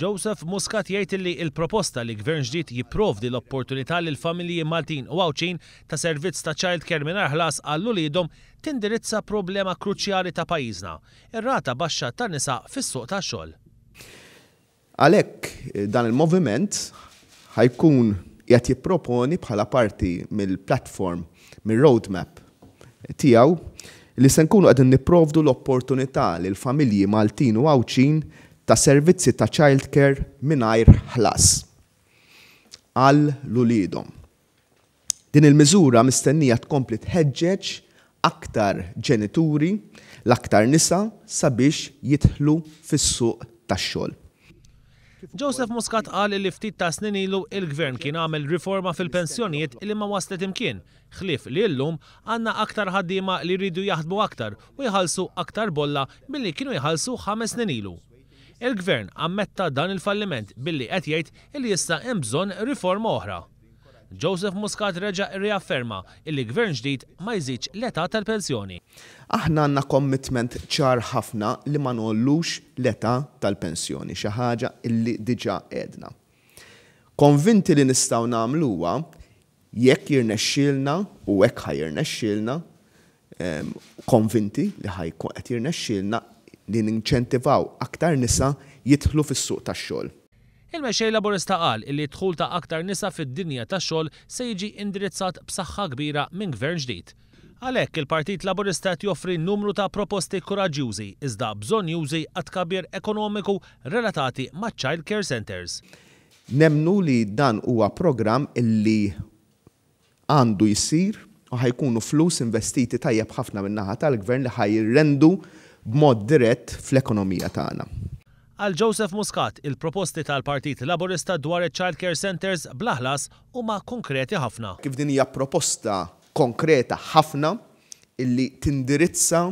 Joseph Muscat jgħid illi l-proposta li Gvern ġdid jipprovdi l-opportunità lil familji Maltin u Għawdxin ta' servizz ta' childcare mingħajr ħlas għal uliedhom tindirizza problema kruċjali ta' pajjiżna, ir-rata baxxa ta' nisa fis-suq tax-xogħol. Għalhekk dan il-moviment ħa jkun qiegħed jipproponi bħala parti mill-platform, mir-roadmap tiegħu li se nkunu qegħdin nipprovdu l-opportunità lil familji Maltin u Għawdxin ta' servizzi ta' childcare mingħajr ħlas għal uliedhom. Din il-miżura mistennija tkompli tħeġġeġ aktar ġenituri, l-aktar nisa, sabiex jidħlu fis-suq tax-xogħol. Joseph Muscat qal li ftit ta' snin ilu il-Gvern kien għamel riforma fil-pensjonijiet li ma waslet imkien, ħlief li illum għandna aktar ħaddiema li jridu jaħdmu aktar u jħallsu aktar bolla milli kienu jħallsu ħames snin ilu. Il-Gvern ammetta dan il-falliment billi qed jgħid li issa hemm bżonn riforma oħra. Joseph Muscat reġa' rriafferma illi Gvern ġdid ma jżidx l-età tal-pensjoni. Aħna għandna commitment ċar ħafna li ma ngħollux l-età tal-pensjoni, xi ħaġa illi diġà għedna. Konvinti li nistgħu nagħmluha jekk jirnexxielna, u hekk ħa jirnexxielna, konvinti li ħa jkun qed jirnexxielna li ninċentivaw aktar nisa jidħlu fis-suq tax-xogħol. Il-Mexxej Laburista qal illi d-dħul ta' aktar nisa fid-dinja tax-xogħol se jiġi indirizzat b'saħħa kbira minn Gvern ġdid. Għalhekk, il-Partit Laburista qed joffri numru ta' proposti kuraġġjużi iżda bżonnjużi għat-tkabbir ekonomiku relatati maċ-Child Care Centres. Nemmnu li dan huwa programm illi Għandu jsir u ħa jkunu flus investiti tajjeb ħafna min-naħa tal-Gvern li ħa jirrendu b'mod dirett fl-ekonomija tagħna. Għal Joseph Muscat, il-proposti tal-Partit Laburista dwar iċ-childcare centres bla ħlas huma konkreti ħafna. Kif din hija proposta konkreta ħafna illi tindirizza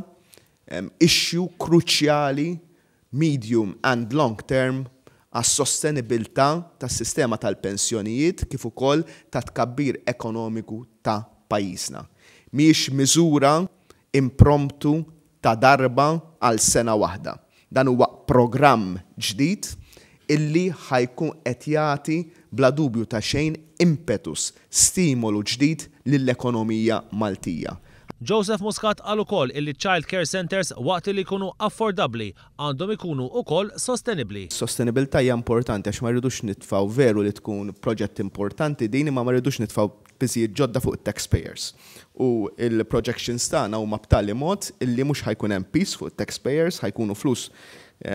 issue kruċjali medium and long term, għas-sostenibilità tas-sistema tal-pensjonijiet kif ukoll tat-tkabbir ekonomiku ta' pajjiżna. Mhijiex miżura impromptu ta' darba għal sena waħda. Dan huwa programm ġdid illi ħa jkun qed jagħti bla dubju ta' xejn impetus stimolu ġdid lill-ekonomija Maltija. Joseph Muscat qal ukoll illi ċ-child care centres waqt li jkunu affordabbli għandhom ikunu ukoll sostenibbli. Sostenibilità hija importanti għax ma rridux nitfgħu veru li tkun proġett importanti din imma ma rridux nitfgħu piżijiet ġodda fuq it-tax payers u l-projections tagħna huma b'tali mod illi mhux ħa jkun hemm piż fuq it-tax payers ħa jkunu flus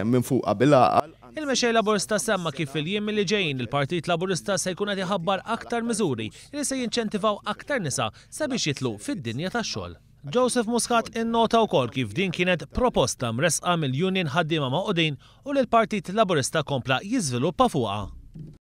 minfuqa bil-għaqal. Il-Mexxej Laburista semma kif fil-jiem li ġejjin il-Partit Laburista se jkun qed iħabbar aktar miżuri li se jinċentivaw aktar nisa sabiex jidħlu fid-dinja tax-xogħol. Joseph Muscat innota wkoll kif din kienet proposta mressqa mill-Union Ħaddiema Magħqudin u li l-Partit Laburista kompla jiżviluppa fuqha.